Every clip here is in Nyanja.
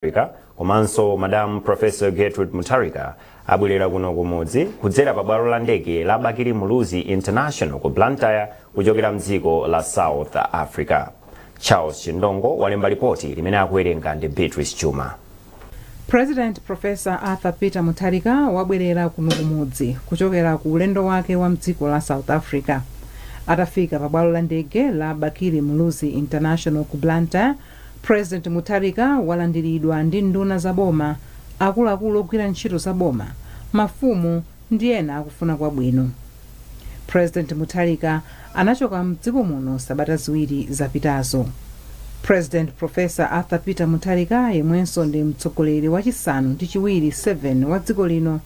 Mutharika komanso Madam Professor Gertrude Mutharika abwerera kuno kumudzi kudzera pa bwalo la ndege la Bakili Muluzi International ku Blantyre kuchokera mdziko la South Africa. Charles Chindongo walemba lipoti limene akuwerenga ndi Beatrice Chuma. President Professor Arthur Peter Mutharika wabwerera kuno kumudzi kuchokera ku ulendo wake wa mdziko la South Africa. Atafika pa bwalo la ndege la Bakili Muluzi International ku Blantyre President Mutharika walandiridwa ndi nduna za boma, akuluakulu ogwira ntchito za boma, mafumu ndi ena akufuna kwabwino. President Mutharika anachoka mdziko muno sabata ziwiri zapitazo. President Professor Arthur Peter Mutharika yemwenso ndi mtsogoleri wa chisanu ndi chiwiri 7 wa dziko lino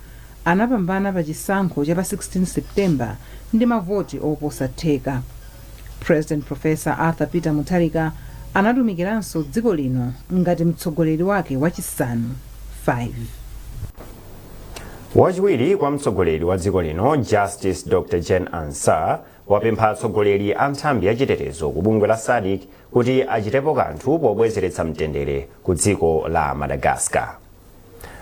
anapambana pa chisankho cha pa 16 September ndi mavoti oposa theka. President Professor Arthur Peter Mutharika anatumikiranso dziko lino ngati mtsogoleri wake wachisanu 5. wachiwiri kwa mtsogoleri wa dziko lino justice dr jane ansah wapempha atsogoleri a nthambi ya chitetezo ku bungwe la sadc kuti achitepo kanthu pobwezeretsa mtendere ku dziko la madagascar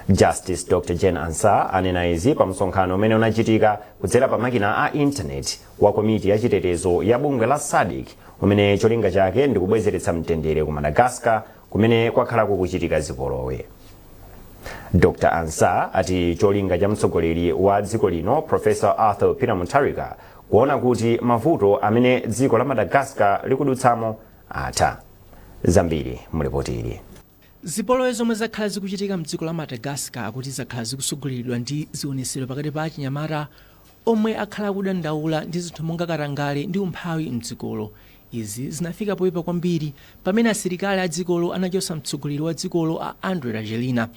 justice dr jane ansah anena izi pa msonkhano umene unachitika kudzera pa makina a intaneti wa komiti ya chitetezo ya bungwe la SADC umene cholinga chake ndi kubwezeretsa mtendere ku Madagascar kumene kwakhala kukuchitika zipolowe. Dr. Ansah ati cholinga cha mtsogoleri wa dziko lino Professor Arthur Peter Mutharika kuona kuti mavuto amene dziko la Madagascar likudutsamo atha. Zambiri mu lipotili. Zipolowe zomwe zakhala zikuchitika mdziko la Madagascar akuti zakhala zikutsogoleredwa ndi zionesero pakati pa achinyamata omwe akhala akudandaula ndi zinthu monga katangale ndi umphawi mdzikolo. Izi zinafika poipa kwambiri pamene asilikali adzikolo anachotsa mtsogoleri wa dzikolo a Andry Rajoelina.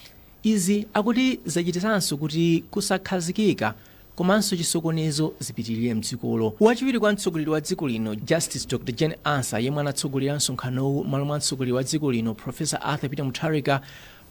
Izi akuti zachititsanso kuti kusakhazikika komanso chisokonezo zipitirire mdzikolo. Wachiwiri kwa mtsogoleri wa dziko lino Justice Dr Jane Ansah yemwe anatsogolera msonkhanowu mmalo mwa mtsogoleri wa dziko lino Professor Arthur Peter Mutharika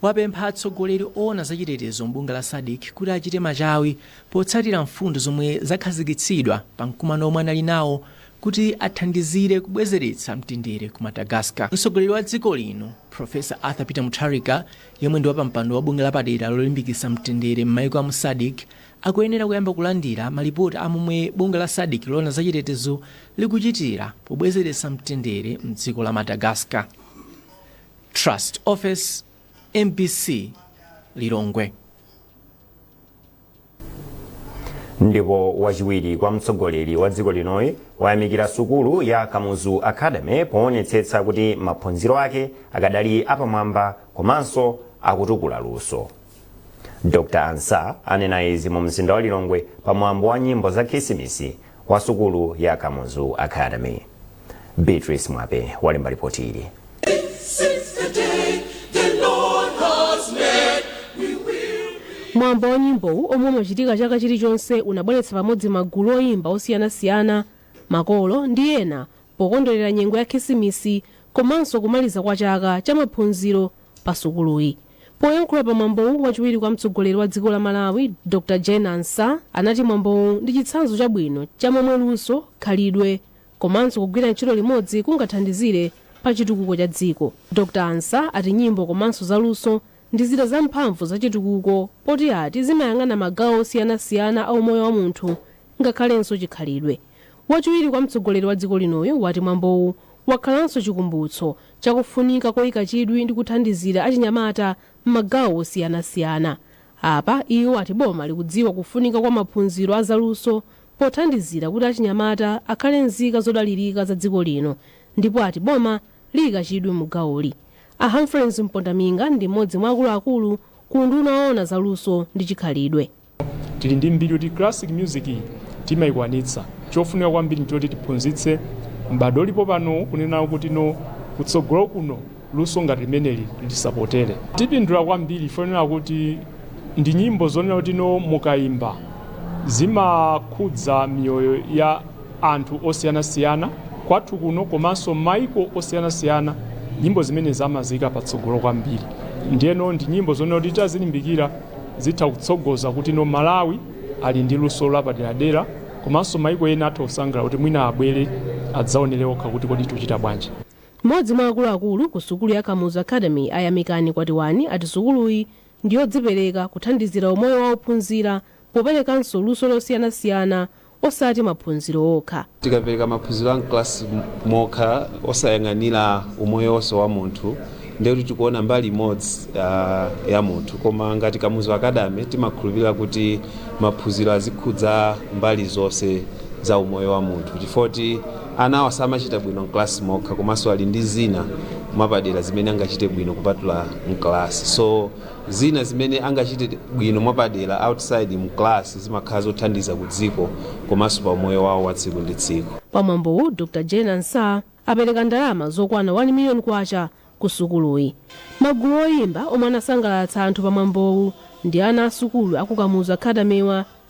wapempha atsogoleri owona za chitetezo m'bungwe la Sadc kuti achite machawi potsatira mfundo zomwe zakhazikitsidwa pa mkumano womwe anali nawo kuti athandizire kubwezeretsa mtendere ku Madagascar. Mtsogoleri wa dziko lino Professor Arthur Peter Mutharika yemwe ndi wapampando wa bungwe lapadera lolimbikitsa mtendere m'maiko amu Sadc akuyenera kuyamba kulandira malipoti a momwe bungwe la Sadc loona za chitetezo likuchitira pobwezeretsa mtendere m'dziko la Madagascar. Trust Ofesi, mbc, Lilongwe. ndipo wachiwiri kwa mtsogoleri wa dziko linoyu wayamikira sukulu ya kamuzu academy poonetsetsa kuti maphunziro ake akadali apamwamba komanso akutukula luso dr ansah anena izi mu mzinda wa lilongwe pa mwambo wa nyimbo za khisimisi wa sukulu ya Kamuzu Academy. Beatrice Mwape walemba lipoti ili. mwambo wa nyimbowu omwe umachitika chaka chilichonse unabweretsa pamodzi magulu oyimba osiyanasiyana makolo ndi ena pokondwelera nyengo ya khisimisi komanso kumaliza kwa chaka cha maphunziro pa sukuluyi. Poyankhula pa mwambowu wachiwiri kwa mtsogoleri wa dziko la Malawi Dr Jane Ansah anati mwambowu ndi chitsanzo chabwino cha momwe luso, khalidwe komanso kugwira ntchito limodzi kungathandizire pa chitukuko cha dziko. Dr Ansah ati nyimbo komanso za luso ndi zida za mphamvu za chitukuko poti ati zimayang'ana magawo osiyanasiyana a umoyo wa munthu ngakhalenso chikhalidwe. Wachiwiri kwa mtsogoleri wa dziko linoyu wati mwambowu wakhalanso chikumbutso cha kufunika koika chidwi ndi kuthandizira achinyamata m'magawo osiyanasiyana. Apa, iwo ati boma likudziwa kufunika kwa maphunziro a zaluso pothandizira kuti achinyamata akhale nzika zodalirika za dziko lino ndipo ati boma liika chidwi mu gawoli. A Humphrey Mpondaminga ndi m'modzi mwa akuluakulu ku unduna woona za luso ndi chikhalidwe. Tili ndi mbiri kuti classic music timayikwanitsa. Chofunika kwambiri nchoti tiphunzitse m'bado ulipo pano kunena kuti no kutsogolo kuno luso ngati limeneli lisapotere. Tipindula kwambiri chifukwa chonena kuti ndi nyimbo zonena kuti no mukayimba zimakhudza miyoyo ya anthu osiyanasiyana kwathu kuno komanso m'mayiko osiyanasiyana. Nyimbo zimenezi amaziyika patsogolo kwambiri. Ndiyeno ndi nyimbo zonena kuti titazilimbikira. Zitha kutsogoza kuti no Malawi ali ndi luso lapaderadera komanso maiko ena atha kusangalala kuti mwina abwere adzaonere okha kuti kodi tuchita bwanji. M'modzi mwa akuluakulu ku sukulu ya Kamuzu Academy a Yamikani Kwatiwani ati sukuluyi ndiyodzipereka kuthandizira umoyo wa ophunzira poperekanso luso losiyanasiyana osati maphunziro okha. Tikapereka maphunziro a mklasi mokha osayang'anira umoyo wonse wa munthu ndiye kuti tikuona mbali imodzi ya munthu koma ngati Kamuzu Academy timakhulupirira kuti maphunziro azikhudza mbali zonse za umoyo wa munthu chifukwa choti anawa samachita bwino mklasi mokha komanso ali ndi zina mwapadera zimene angachite bwino kupatula mklasi so zina zimene angachite bwino mwapadera outside mu class zimakhala zothandiza ku dziko komanso pa umoyo wawo wa tsiku ndi tsiku pamwambowu dr jane ansah apereka ndalama zokwana 1 million kwacha ku sukuluyi magulu oyimba omwe anasangalatsa anthu pamwambowu ndi ana a sukulu aku kamuzu academy wa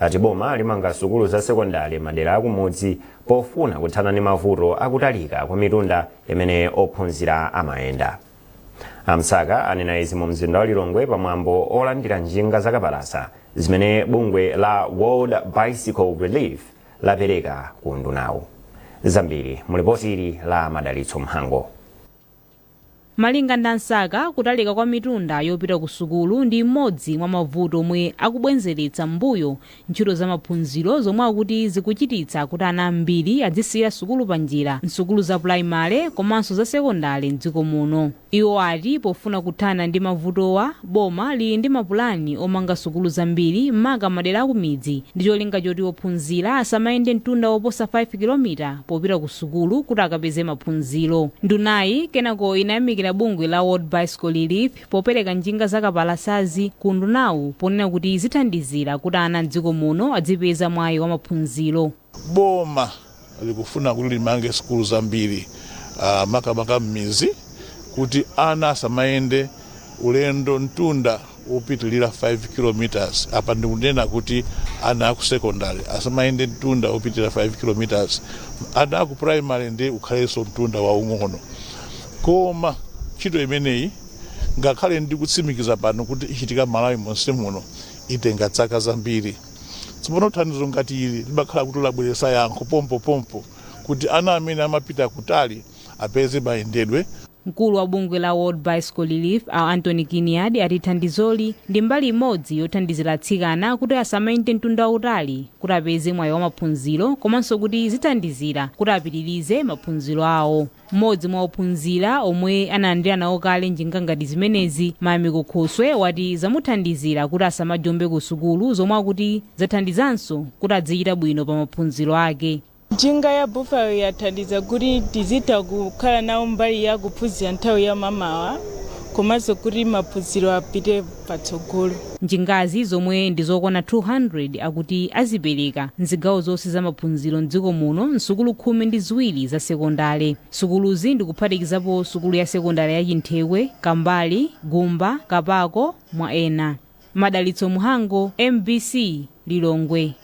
ati boma limanga sukulu za sekondale madera akumudzi pofuna kuthana ndi mavuto akutalika kwa mitunda imene ophunzira amayenda a msaka anena izi mu mzinda wa lilongwe pamwambo olandira njinga zakapalasa zimene bungwe la world bicycle relief lapereka ku undunawu zambiri mu lipoti la madalitso mhango Malinga ndi a Msaka, kutalika kwa mitunda yopita ku sukulu ndi imodzi mwa mavuto omwe akubwenzeretsa m'mbuyo ntchito za maphunziro zomwe akuti zikuchititsa kuti ana ambiri adzisiyira sukulu panjira m'sukulu za pulayimale komanso za sekondale m'dziko muno. Iwo ati pofuna kuthana ndi mavutowa, Boma lili ndi mapulani omanga sukulu zambiri maka madera akumidzi ndi cholinga choti ophunzira asamayende mtunda woposa 5 kilomita popita ku sukulu kuti akapeze maphunziro. Ndunayi kenako inayamikira bungwe la World Bicycle Relief popereka njinga za kapalasazi ku undunawu ponena kuti zithandizira kuti ana m'dziko muno adzipeza mwayi wa maphunziro. Boma likufuna kuti limange sukulu zambiri uh, makamaka m'mizi kuti ana asamayende ulendo mtunda wopitilira 5 kilometers apa ndikunena kuti ana aku secondary asamayende mtunda wopitilira 5 kilometers ana aku primary ndi ukhalenso mtunda waung'ono koma ntchito imeneyi ngakhale ndikutsimikiza pano kuti ichitika malawi monse muno itenga zaka zambiri Tsopano thandizo ngati ili limakhala kuti labweretsa yankho pompopompo kuti ana amene amapita kutali apeze mayendedwe. Mkulu wa bungwe la World Bicycle Relief, a Anthony Kinnaird ati thandizoli ndi mbali imodzi yothandizira atsikana kuti asamayende mtunda wautali kuti apeze mwayi wa maphunziro komanso kuti zithandizira kuti apitirize maphunziro awo. M'modzi mwa ophunzira omwe analandira nawo kale njinga ngati zimenezi, Mayamiko Khoswe wati zamuthandizira kuti asamajombe ku sukulu zomwe akuti zathandizanso kuti adzichita bwino pa maphunziro ake. Njinga ya Buffalo yathandiza kuti tizitha kukhala nawo mbali ya kuphunzira nthawi ya mamawa komanso kuti maphunziro apite. patsogolo. Njingazi zomwe ndi zokwana 200 akuti azipereka m'zigawo zonse za maphunziro m'dziko muno m'sukulu khumi ndi ziwiri za sekondale. Sukuluzi ndi kuphatikizapo sukulu ya sekondale ya Chinthekwe, Kambali, Gumba, Kapako mwa ena. Madalitso Mhango, mbc, Lilongwe.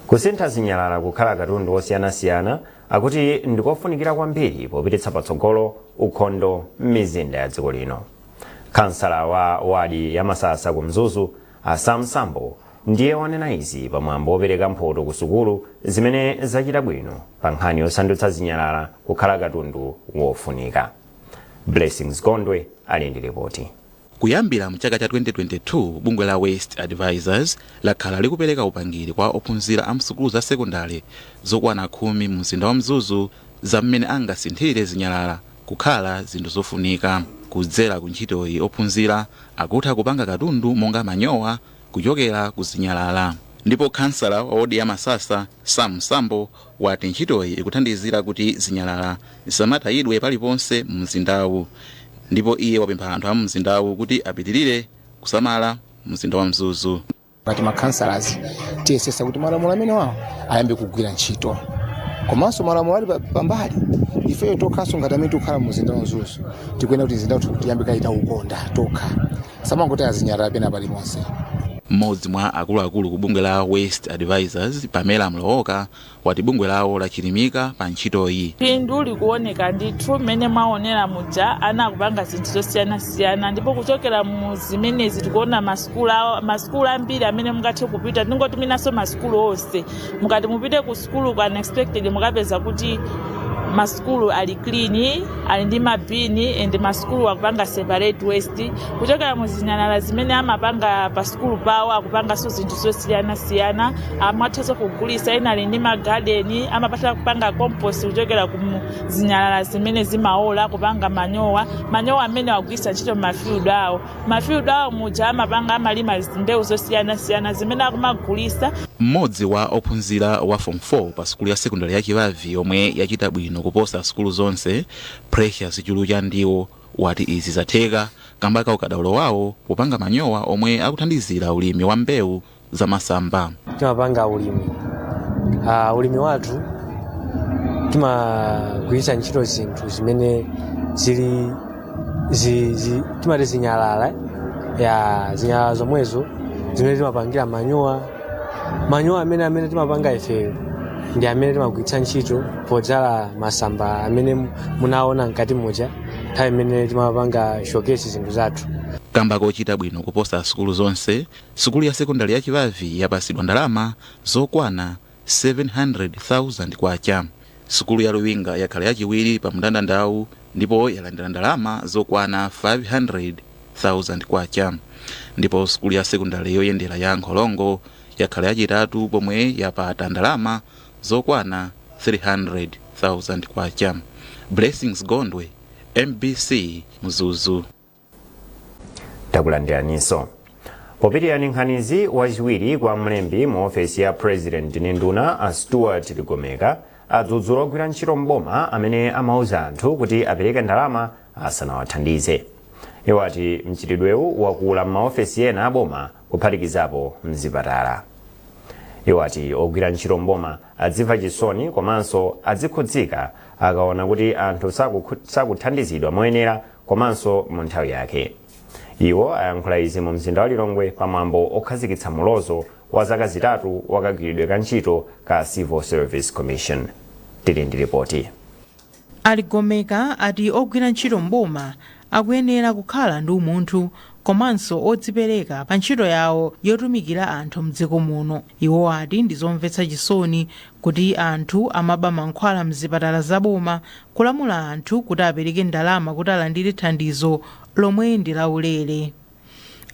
Kusintha zinyalala kukhala katundu wosiyanasiyana akuti ndikofunikira kwambiri popititsa patsogolo ukhondo m'mizinda ya dziko lino. Khansala wa wadi ya Masasa ku Mzuzu, a Sam Sambo, ndiye wanena izi pa mwambo wopereka mphoto ku sukulu zimene zachita bwino pa nkhani yosandutsa zinyalala kukhala katundu wofunika. Blessings Gondwe ali ndi ripoti. Kuyambira mchaka cha 2022, bungwe la Waste Advisors lakhala likupereka upangiri kwa ophunzira a msukulu za sekondale zokwana khumi mu mzinda wa Mzuzu za mmene angasinthire zinyalala kukhala zinthu zofunika. Kudzera ku ntchitoyi ophunzira akutha kupanga katundu monga manyowa kuchokera ku zinyalala. Ndipo khansala wa wodi ya Masasa, Sam Sambo, wati ntchitoyi ikuthandizira kuti zinyalala zisamatayidwe paliponse mu mzindawu ndipo iye wapempha anthu a mu mzindawu kuti apitirire kusamala mzinda wa mzuzu ngati makhansalaz tiyesesa kuti malamulo amenewawo ayambe kugwira ntchito komanso malamulo ali pambali ifeyo tokhanso ngati amene tikukhala mu mzinda wa mzuzu tikuyenera kuti mzinda wathu tiyambe kayita ukhondo tokha samangoti zinyalala pena paliponse mmodzi mwa akuluakulu ku bungwe la waste advisors pamela mlowoka wati bungwe lawo lachilimika pa ntchitoyi phindu likuoneka ndithu mmene mwaonera muja ana akupanga zinthu zosiyanasiyana ndipo kuchokera mu zimenezi tikuona masukulu awo- masukulu ambiri amene mungathe kupita tingoti mwinanso masukulu onse mukati mupite ku Sukuluko unexpected mukapeza kuti masukulu ali clean ali ndi mabini and masukulu akupanga separate waste kuchokera mu zinyalala zimene amapanga pa sukulu pawo akupanganso zinthu zosiyanasiyana amathanso kugulisa ena ali ndi magadeni amatha kupanga compost kuchokera ku mu- zinyalala zimene zimaola kupanga manyowa manyowa amene akugwirisa ntchito m'mafield awo mafield awo muja amapanga amalima mbewu zosiyanasiyana zimene akumagulisa mmodzi wa ophunzira wa form 4 pa sukulu ya sekondari ya chibavi yomwe yachita bwino kuposa sukulu zonse precious chulu chandiwo wati izi zatheka kamba ka ukadaulo wawo popanga manyowa omwe akuthandizira ulimi wa mbewu zamasamba. timapanga ulimi uh, ulimi wathu timagwiritsa ntchito zinthu zimene zili zi, zi, timati zinyalala ya zinyalala zomwezo zimene timapangira manyowa manyowa amene amene timapanga ifeyo ndi amene timagwiritsa ntchito podzala masamba amene mu- munaona mkati muja nthawi imene timapanga showcase zinthu zathu kamba kochita bwino kuposa sukulu zonse Sukulu ya sekondale ya Chibavi yapasidwa ndalama zokwana K700,000. Sukulu ya Luwinga yakhala yachiwiri pa mndandandawu ndipo yalandira ndalama zokwana K500,000 ndipo sukulu ya sekondale yoyendera ya Nkhorongo yakhala yachitatu pomwe yapata ndalama zokwana K300,000. Blessings Gondwe, mbc, Mzuzu. takulandiraninso popitiriza ndi nkhanizi wachiwiri kwa mlembi mu ofesi ya president ndi nduna a stuart ligomeka adzudzula ogwira ntchito mboma amene amauza anthu kuti apereke ndalama asanawathandize iwo ati mchitidwewu wakula m'maofesi ena aboma kuphatikizapo mzipatala iwo ati ogwira ntchito mboma adzimva chisoni komanso adzikhudzika akaona kuti anthu sakuthandizidwa moyenera komanso mu nthawi yake. Iwo ayankhula izi mu mzinda wa Lilongwe pa mwambo okhazikitsa mulozo wa zaka zitatu wa kagwiridwe ka ntchito ka Civil Service Commission. Tili ndi lipoti. A Ligomeka ati ogwira ntchito m'boma akuyenera kukhala ndi umunthu komanso odzipereka pa ntchito yawo yotumikira anthu m'dziko muno. Iwo ati ndi zomvetsa chisoni kuti anthu amaba mankhwala mzipatala za boma, kulamula anthu kuti apereke ndalama kuti alandire thandizo lomwe ndi la ulere.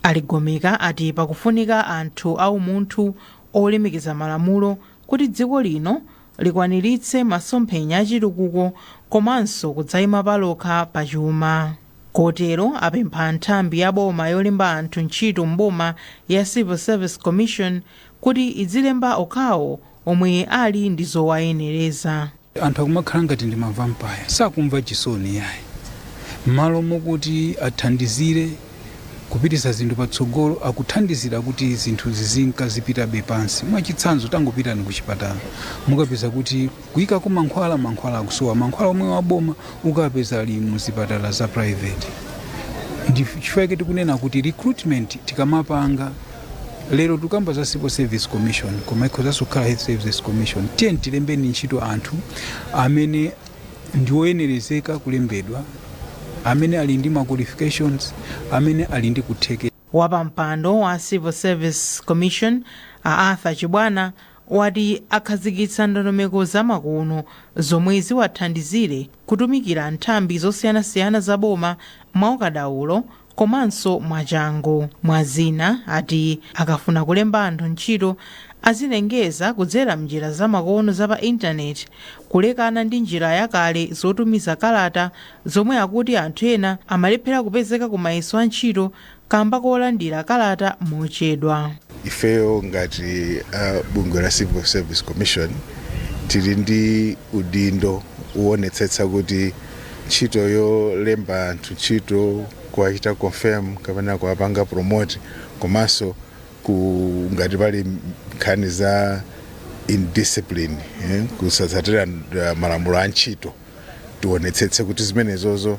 A Ligomeka ati pakufunika anthu a umunthu olemekeza malamulo kuti dziko lino likwaniritse masomphenya a chitukuko komanso kudzaima palokha pa chuma. kotero apempha nthambi ya boma yolemba anthu ntchito m'boma ya Civil Service Commission kuti idzilemba okhawo omwe ali ndi zowayenereza. anthu akumakhala ngati ndi ma vampire sakumva chisoni yayi mmalo mokuti athandizire kupitisa zinthu patsogolo akuthandizira kuti zinthu zizinka zipitabe pansi mwachitsanzo tangopitani ku chipatala mukapeza kuti Kuikako mankhwala, mankhwala akusowa, mankhwala omwewo a boma ukapeza ali mu zipatala za private. Chifukwa chake tikunena kuti recruitment tikamapanga lero tikukamba za Civil Service Commission koma ikhozanso kukhala Health Services Commission. Tiyeni tilembeni ntchito anthu amene ndi oyenerezeka kulembedwa, amene ali ndi ma qualifications, amene ali ndi kuthekera. Wapampando wa Civil Service Commission, a Arthur Chibwana, wati akhazikitsa ndondomeko zamakono zomwe ziwathandizire kutumikira nthambi zosiyanasiyana za boma mwaukadaulo komanso mwachangu. Mwazina, ati akafuna kulemba anthu ntchito azilengeza kudzera m'njira zamakono za pa intaneti, kulekana ndi njira yakale zotumiza kalata zomwe akuti anthu ena amalephera kupezeka ku mayeso a ntchito kamba kolandira kalata mochedwa. ifeyo ngati a bungwe la civil service commission tili ndi udindo woonetsetsa kuti ntchito yolemba anthu ntchito kuwachita confirm kapena kuwapanga promote komanso ku ngati pali nkhani za indiscipline eh, kusatsatira uh, malamulo a ntchito tionetsetse kuti zimenezozo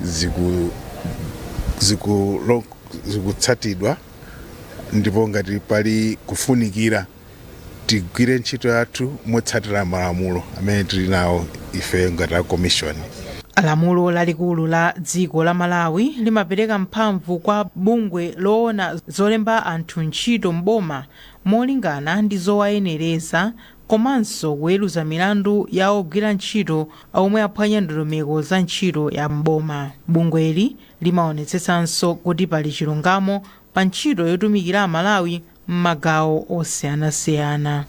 ziku- zikulo- zikutsatidwa ndipo ngati pali kufunikira tigwire ntchito yathu motsatira malamulo amene tili nawo ife ngati a komishoni lamulo lalikulu la dziko la malawi limapereka mphamvu kwa bungwe loona zolemba anthu ntchito m'boma molingana ndi zowayenereza komanso kuweruza milandu ya ogwira ntchito omwe aphwanya ndondomeko za ntchito ya m'boma. Bungweli limaonetsetsanso kuti pali chilungamo pa ntchito yotumikira Amalawi m'magawo osiyanasiyana.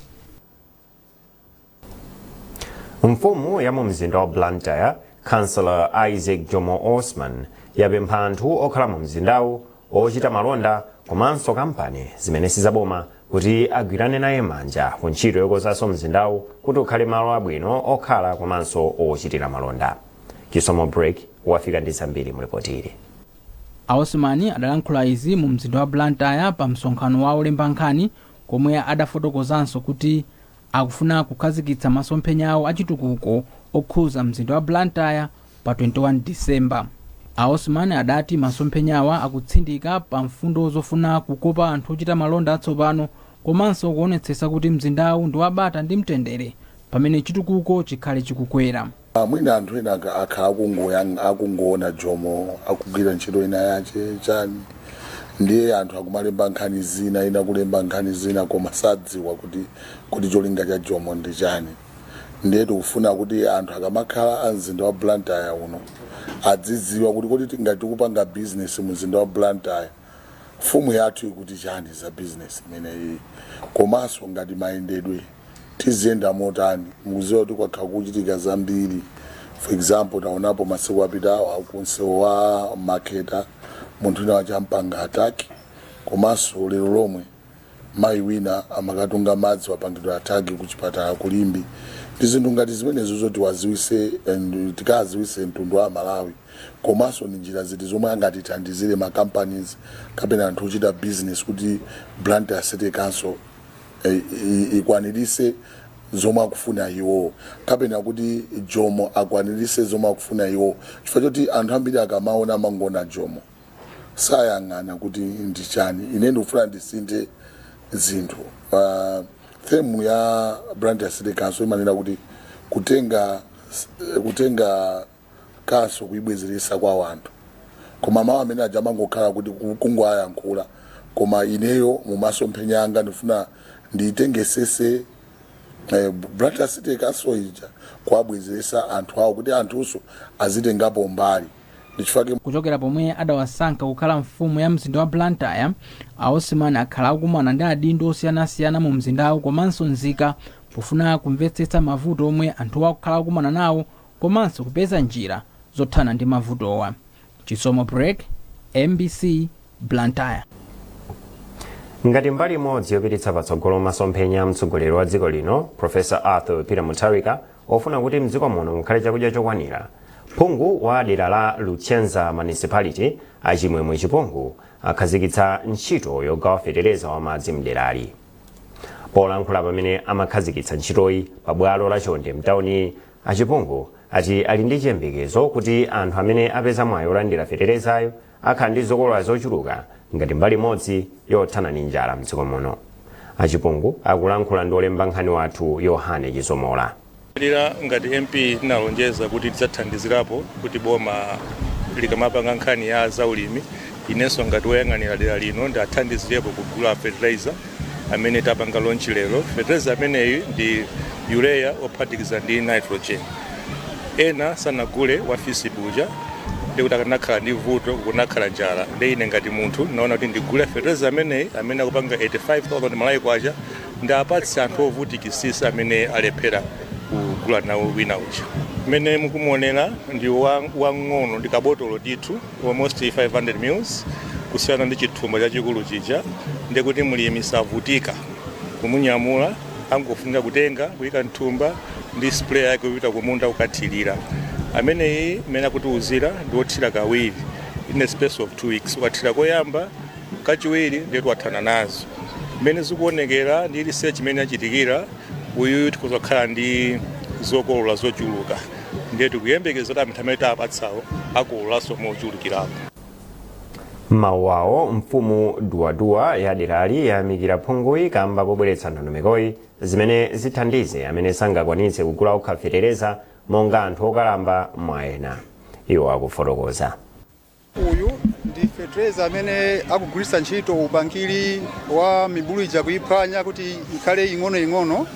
Mfumu ya mu mzinda wa Blantyre, Councillor Isaac Jomo Osman, yapempha anthu okhala mu mzindawu ochita malonda komanso kampani zimene si zaboma kuti agwirane naye manja ku ntchito yokonzanso mzindawu kuti ukhale malo abwino okhala komanso ochitira malonda chisomo break wafika ndi zambiri mu lipoti ili a osman adalankhula izi mu mzinda wa blantyre pa msonkhano wa olemba nkhani komwe adafotokozanso kuti akufuna kukhazikitsa masomphenya awo achitukuko okhuza mzinda wa Blantyre pa 21 December. A Osman adati masomphenyawa akutsindika pa mfundo zofuna kukopa anthu ochita malonda atsopano komanso kuonetsetsa kuti mzindawu ndi wa bata ndi mtendere pamene chitukuko chikhale chikukwera. Ah, mwina anthu ena aka- akhala akungoyang- akungoona jomo akugwira ntchito ina yache chani ndiye anthu akumalemba nkhani zina ena kulemba nkhani zina koma sadziwa kuti kuti cholinga cha jomo ndi chani ndiye tikufuna kuti anthu akamakhala a mzinda wa blantyre uno adzidziwa kuti kodi ngati tikupanga bizinesi mu mzinda wa blantyre mfumu yathu ikuti chani za bizinesi imeneyi komanso ngati mayendedwe tiziyenda motani mukudziwa kuti kwakhala kukuchitika zambiri for example taonapo masiku apitawa kunsewu wa makata munthu wina wachampanga attack komanso lero lomwe mayi wina amakatunga madzi wapangidwa attack ku chipatala ku limbe ndi zinthu ngati zimenezo zoti tiwadziwitse and tikadziwitse mtundu wa malawi komanso ndi njira ziti zomwe angatithandizire ma companies kapena anthu ochita business kuti blantyre city council eh, i- ikwanirise zomwe akufuna iwo kapena kuti jomo akwanirise zomwe akufuna iwo chifukwa choti anthu ambiri akamaona amangoona jomo sayang'ana kuti ndi chani ine ndikufuna ndisinthe zinthu uh, themu ya Blantyre city council imanena kuti kutenga khanso kuibwezeretsa kwa wanthu koma mawu amene aja amangokhala kuti ku- kungoayankhula koma ineyo mumasomphenya anga ndifuna ndiitengesese eh, Blantyre City Council ija kuabwezeretsa anthu awo kuti anthunso azitengapo mbali ndichifake kuchokera pomwe adawasankha kukhala mfumu ya mzinda wa blantyre a Osman akhala akumana ndi adindo osiyanasiyana mu mzindawu komanso nzika pofuna kumvetsetsa mavuto omwe anthuwa akukhala akumana nawo komanso kupeza njira zothana ndi mavutowa. Chisomo Break, mbc, Blantyre. Ngati mbali imodzi yopititsa patsogolo masomphenya a mtsogoleri wa dziko lino Professor Arthur Peter Mutharika ofuna kuti mdziko muno mukhale chakudya chokwanira, phungu wa dera la Luchenza Municipality a Chimwemwe Chipungu akhazikitsa ntchito yogawa fetereza wa madzi mderali. Polankhula pamene amakhazikitsa ntchitoyi pa bwalo la Chonde mtauni A Chipungu ati ali ndi chiyembekezo kuti anthu amene apeza mwayi olandira feterezayo akhala ndi zokolola zochuluka ngati mbali imodzi yothana ndi njala mdziko muno. A Chipungu akulankhula ndi olemba nkhani wathu Yohane Chizomola. Dera ngati MP ndinalonjeza kuti ndidzathandizirapo kuti boma likamapanga nkhani ya zaulimi inenso ngati woyang'anira dera lino ndiathandizirepo kugula fertilizer. amene tapanga launch lero fetereza ameneyi ndi urea ophatikiza ndi nitrogen ena sanagule wa FISP uja ndekuti akanakhala ndi vuto kunakhala njala nde ine ngati munthu naona kuti ndigule fetereza ameneyi amene akupanga 85000 Malawi kwacha ndiapatse anthu ovutikisisa amene alephera kugula nawo wina uja mmene mukumuonera ndi wang'ono ndi kabotolo ndithu almost 500 mils kusiyana ndi chithumba chachikulu chija ndiye kuti mlimi savutika kumunyamula angofunika kutenga kuyika mthumba ndi spray yake kupita kumunda kukathirira ameneyi mmene akutiuzira ndi wothira kawiri in a space of two weeks ukathira koyamba kachiwiri ndiye kuti wathana nazo mmene zikuonekera ndi research imene yachitikira uyuyu tikhoza kukhala ndi zokolola zochuluka ndiye tikuyembekeza kuti anthu amene tapatsawo akololanso mochulukirapo. M'mawu awo mfumu Duwaduwa ya derali yayamikira phunguyi kamba kobweretsa ndondomekoyi zimene zithandize amene sangakwanitse kugula okha fetereza monga anthu okalamba mwa ena. Iwo akufotokoza. Uyu ndi fetereza amene akugwiritsa ntchito upangiri wa mibulu ija kuyiphwanya kuti ikhale ing'onoing'ono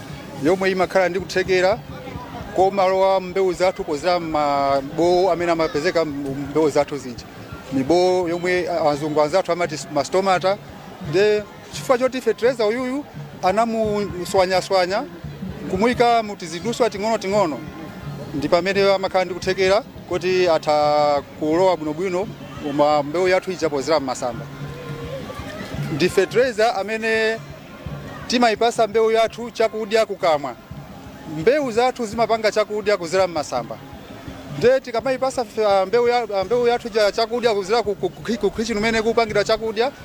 yomwe imakhala ndi kuthekera komalowa mmbewu zathu pozera mmabowo amene amapezeka mmbewu zathu zija mibowo yomwe azungu anzathu amati mastomata nde Chifukwa choti fetereza uyuyu anamuswanyaswanya nkumuika mu tiziduswa ting'onoting'ono ndi pamene amakhala ndi kuthekera koti atha kulowa bwinobwino mmbewu yathu ija pozera m'masamba. Ndi fetereza amene timayipasa mbewu yathu chakudya kukamwa. Mbewu zathu zimapanga chakudya kuzera m'masamba nde tikamayipasa fe- ah, mbewu ya- ah, mbewu yathu ija chakudya kuzera ku- ku- ku- ku kitchen kumene kupangidwa chakudya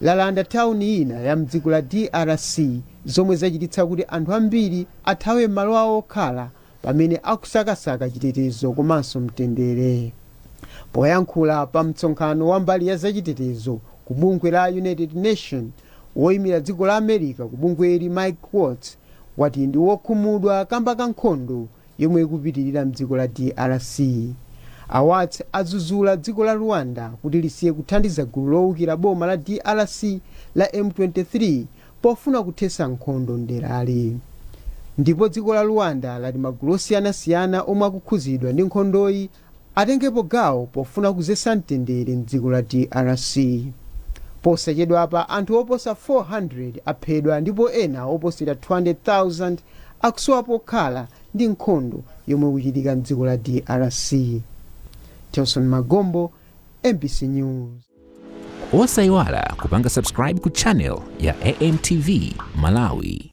lalanda tawuni ina ya m'dziko la drc zomwe zachititsa kuti anthu ambiri athawe m'malo awo okhala pamene akusakasaka chitetezo komanso mtendere poyankhula pa mtsonkhano wa mbali ya zachitetezo ku bungwe la united nations woyimira dziko la america ku bungweli mike waltz wati ndi wokhumudwa kamba ka nkhondo yomwe ikupitilira mdziko la drc. A Waltz adzuzula dziko la Rwanda kuti lisiye kuthandiza gulu lowukira boma la drc la M23 pofuna kuthesa nkhondo mderali. Ndipo dziko la Rwanda lati magulu osiyanasiyana omwe akukhuzidwa ndi nkhondoyi atengepo gawo pofuna kuzetsa mtendere m'dziko la drc. Posachedwapa anthu oposa 400 aphedwa ndipo ena oposera 200,000 akusowa pokhala ndi nkhondo yomwe ikuchitika m'dziko la drc. Telson Magombo, mbc News. Osaiwala kupanga subscribe ku channel ya AM TV Malawi.